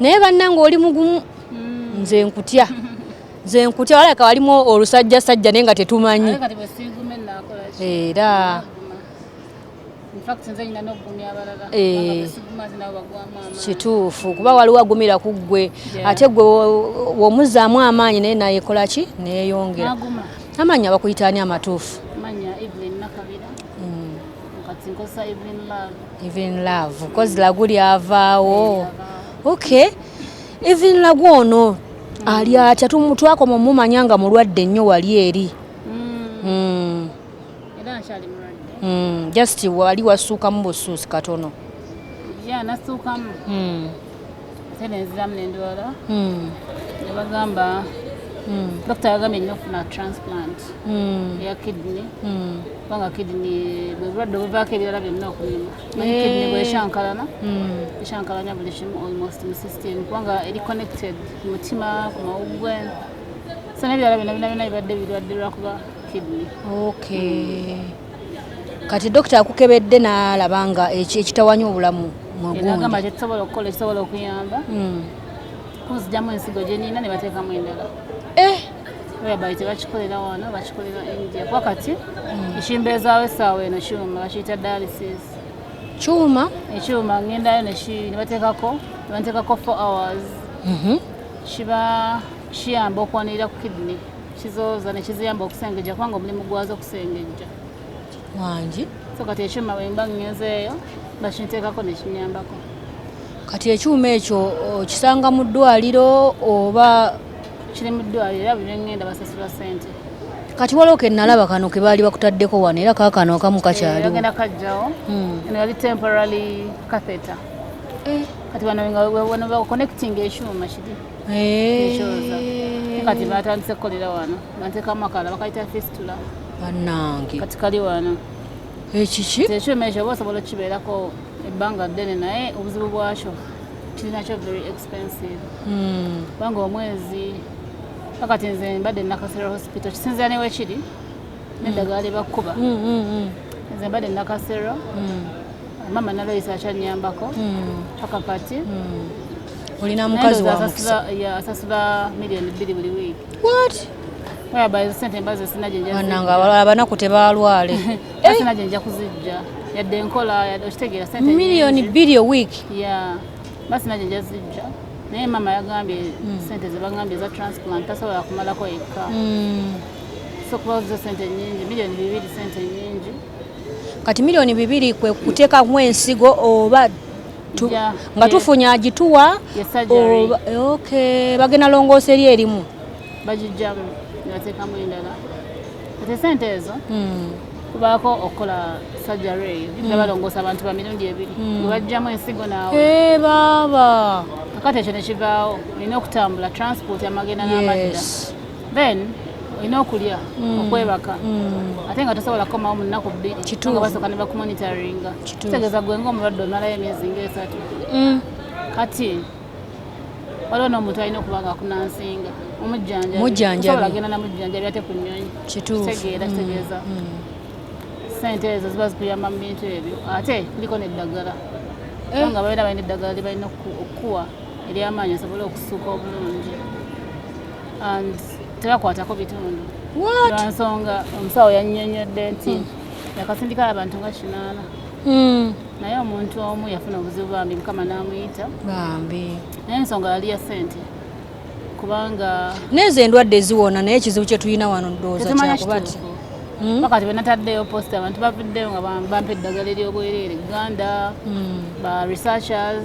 naye bannange oli mugumu hmm. nze nkutya nze nkutya walabika walimu olusajja sajja naye nga tetumanyi era eh. kituufu kuba waliwo agumira ku ggwe ate gwe womuzzaamu amaanyi naye nayekola ki neyongera amaanyi abakuyitaani amatuufu hmm. even love kozi lagu lyavaawo okay even lagu ono ali atya twakoma omumanya nga mulwadde nnyo wali eri mm. Mm. Mm. just wali wasuukamu busuusi katono yeah, ate nenziramu nendwala hmm. nebagamba hmm. dokita yagambye nina okufuna transplant hmm. eya kidney kubanga kidney bwebulwadde obuvaako ebirala byonna okulima naye eh. kidney bweshankalana eshankalanya buli kimu almost mu system kubanga eri connected ku mutima ku mawuggwe so nebirala byonna byonna byonna bibadde birwadde lwakuba kidney okay kati dokita akukebedde n'alaba nga ekitawanya obulamu mwegagamba tekisobola okukola ekisobola okuyamba hmm. kunzijamu ensigo gyenina ne bateekamu endala eh! whereby tebakikolera wano bakikolera india kuba kati hmm. ekimbeezaawo essaawa eno kyuma bakiyita dialysis kyuma ekyuma ngendayo nebateekako nebateekako four hours mhm. kiba kiyamba okwanirira ku kidney kizooza ne kiziyamba okusengejja kubanga omulimu gwazo okusengejja wangi so kati ekyuma wemba ngenzeeyo nga kinteekako nekinyambako kati ekyuma ekyo okisanga mu ddwaliro oba kiri mu ddwaliro era buli lwengenda basasula sente kati waliwo kenalaba kano kebaali bakutaddeko wano era kakano akamu kakyaliogenda eh, kajjawo hmm. eno yali temporary catheter eh. kati wano wano bakuconnecting ekyuma kiri ekyoza kati batandise kukolera wano banteka amakala bakayita fistula banange kati kali wano ekiki tekyuma ekyo oba osobola okukibeerako ebbanga ddene naye obuzibu bwakyo kirinakyo very expensive hmm. kubanga omwezi akati nze mbadde nakasera hospital kisinzira newekiri neddagala hmm. lyebakuba hmm, nze mbadde nakasero mama naloyisa akyanyambako hmm. paka kati hmm. olina mukazi asasula milioni bbiri buli wiiki bananga abalala banaku tebalwale sina gyenja kuzijja yadde enkola okitegeera sente milioni bbiri owiiki basi najo nja zijja naye mama yagambye hmm. sente zebagambye eza transplant tasobola kumalako yekka sokuba zo sente nyingi milioni bibiri sente nyingi kati milioni bibiri kwe kuteekamu ensigo oba nga tufunye agituwa bagenda longoosa eri erimu bagijjamu nebateekamu endala kati esente ezo hmm. kubaako okukola sajjaro eyo hmm. nga balongoosa abantu ba mirundi ebiri hmm. webajjamu ensigo naawe eh, baaba kakati ekyo nekivaawo olina okutambula transport amagenda n'amadda then olina okulya mm. okwebaka mm. ate nga tosobola kukomawo mu nnaku bbiri nga basooka ne bakumonitaringa kitegeeza gwe ngaomulwadde omalayo emyezi ngaesatu mm. kati waliwo n'omuntu alina okuba nga akunansinga omujjanjabisobola agenda namujjanjabi ate ku nnyonyi kitegeera kitegeeza sente ezo ziba zikuyamba mu bintu ebyo ate kuliko neddagala eh. nga babeera balina eddagala lyebalina okukuwa eryamaanyi osobole okusuuka obulungi tebakwatako bitundu lwansonga omusawo yannyonnyodde nti hmm. yakasindika abantu nga kinaana hmm. naye omuntu omu yafuna obuzibu bambi mukama n'amuyita bambi naye ensonga yali ya ssente kubanga nezo endwadde ziwona naye ekizibu kyetulina wano ndowooza kyakuba ti hmm? wakati bwenataddeyo posta abantu bavuddeyo nga bampa eddagala eryobwereere uganda ba researchers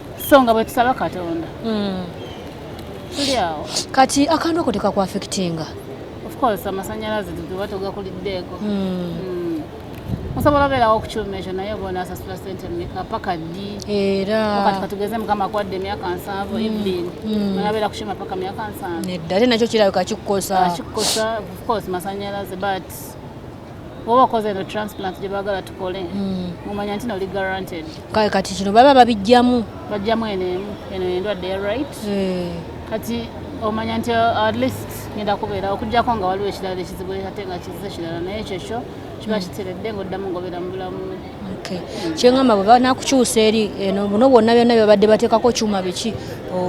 so nga bwetusaba katonda hmm. tuli awo kati akantu ako tekakuafectinga ofcourse amasanyalaze tuba tugakuliddeeko hmm. hmm. osobola obeerawo okukyuma ekyo naye obona asasula sente meka paka ddi erakati katugeze mukama akwadde emyaka nsanvu ibin nabeera kukyuma paka myaka nsanvu nedda ate nakyo kirabika kikukosa kikukosa ofcourse masanyalaze but oba okoze eno transplant gye baagala tukole hmm. mumanya nti noli guaranted kale kati kino baba babijjamu bajjamu eno emu eno endwadde ya right eh. kati omanya nti uh, at least ngenda kubeera okujjako nga waliwo ekirala ekizibu ate nga kizize kirala naye kyekyo kiba hmm. kiteredde ngaoddamu ngaobeera mu bulamu hmm. kyengamba bwe banakukyusa eri eno buno bwonna byonna byebabadde bateekako kyuma biki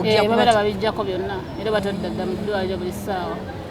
eh, babera babijjako byonna era batadda dda mu ddwaliro buli ssaawa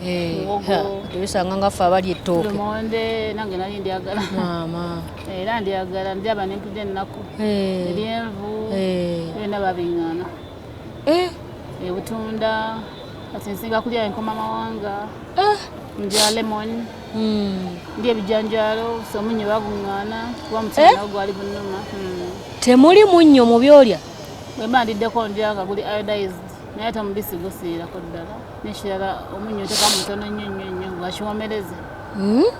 Eh, tubisanga nga ffe abali ettooke lumonde nange nali ndyagala maama eh, era ndyagala ndyaba nempudde ennaku eh. eryenvu byonna babiŋana ebutunda kati nsinga kulya enkoma mawanga ndya lemon hmm. ndi ebijanjalo somunyo baguŋana kuba mutima gwali bunuma hmm. temuli munnyo mu byolya bwemba ndiddeko ndya nga guli iodized naye ate omubisi gusiirako ddala nekirala omunyo teka mutono nnyo nnyo nnyo ngakiwomereze hmm?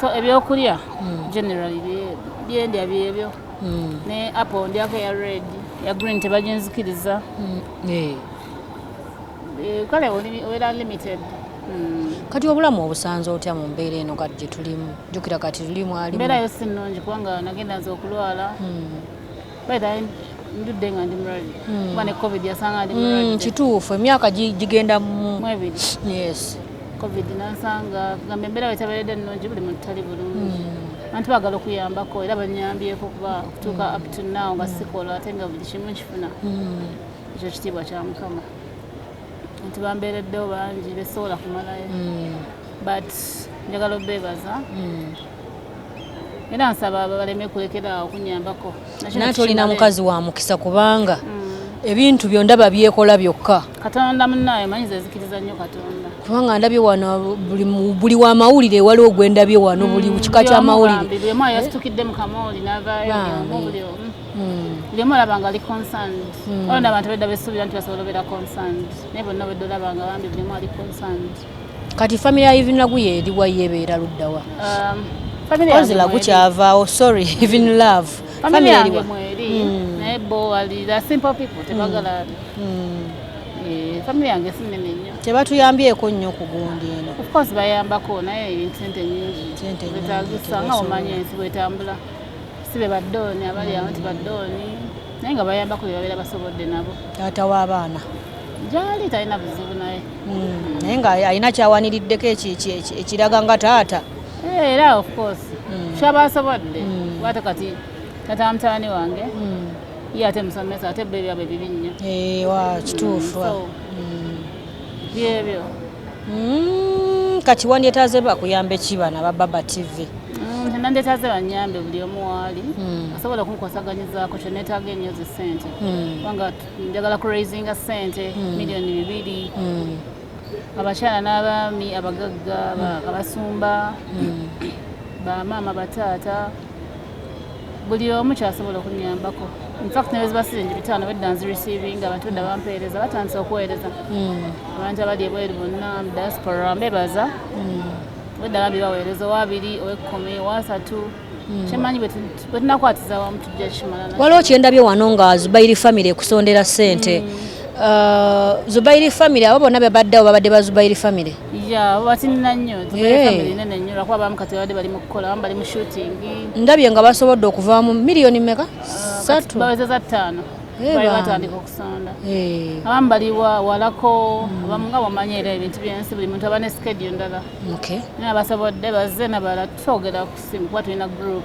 so ebyokulya hmm. generally byendya byebyo hmm. ne apple ndyako eya red ya green tebaginzikiriza eh. Eh, kale obeera limited kati obulamu obusanze otya mu mbeera eno kati gyetulimu jukira kati tulimu alimbeerayo si nnungi kubanga nagenda nze okulwala ndudde nga ndi mulwadde hmm. kuba ne covid yasanga ndi hmm, mulwadde kituufu emyaka gigenda mu mwebiri yes covid nansanga kugamba embeera wetabeeredde nnungi buli muntu tali bulungi hmm. abantu bagala okuyambako era banyambyeko kuba okutuuka up to now nga sikola ate nga buli kimu nkifuna ekyo kitiibwa kya mukama nti bambeereddewo bangi besobola kumalayo but njagala obebaza mm. era nsaba baleme kulekera okunyambako nate olina mukazi wa mukisa kubanga mm. ebintu byondaba byekola byokka katonda munaye manyi zezikiriza nnyo katonda kubanga ndabye wano buli wa mawulire wali ogwendabye wano buli mm, kika kya mawulire lyemu olaba nga ali concerned mm. olona abantu bedda besuubira nti basobola obeera concerned naye bonna bedda olaba nga bambi lyemu ali concerned kati family ya even lagu ye eriwa yebeera luddawa um, family yange lagu kyavaawo sorry even love family yange mweri hmm. naye bo wali the simple people hmm. tebagala hmm. eh, family yange sinene nnyo tebatuyambyeko nnyo kugundi eno of course bayambako naye ebintu sente nyingi betagisa nga omanya ensi bwetambula si be baddooni abali awo nti baddooni naye nga bayambako byebabeera basobodde nabo taata w'abaana gyali talina buzibu naye hmm, naye nga alina kyawaniriddeko ekiraga nga taata eh, era of course hmm. kyaba asobodde hmm. wate kati tata mutani wange ye ate musomesa ate bebyo abyo bibi nnyo eh, wa kituufu byebyo kati wandyetaze bakuyamba ekibana ba baba tv nandetaze banyambe buli omu waali asobola okunkosaganyizaako kyenetaaga enyo zi sente njagala ku raisinga sente hmm. miliyoni bibiri hmm. abakyala n'abaami abagagga hmm. abasumba bamaama bataata buli omu kyasobola okunyambako infact nebezibasize nti bitaano bedda nzireceiving abantu edda bampeereza batandise okuweereza abantu abali ebweru bonna diaspora mbebaza bedda bambi baweereza owabiri owekumi owasatu waliwo kyendabye wano nga zubairi famiry ekusondera sente mm. uh, zubairi famiry abo bonna bebaddewo babadde ba zubairi famiry ndabye nga basobodde okuvaamu miliyoni meka uh, satu abamu baliwa walako abamu nga wamanyi era ebintu byensi buli muntu aba ne skedio ndala Okay. Nabasobodde bazze nabalala twogera ku simu kuba tulina group.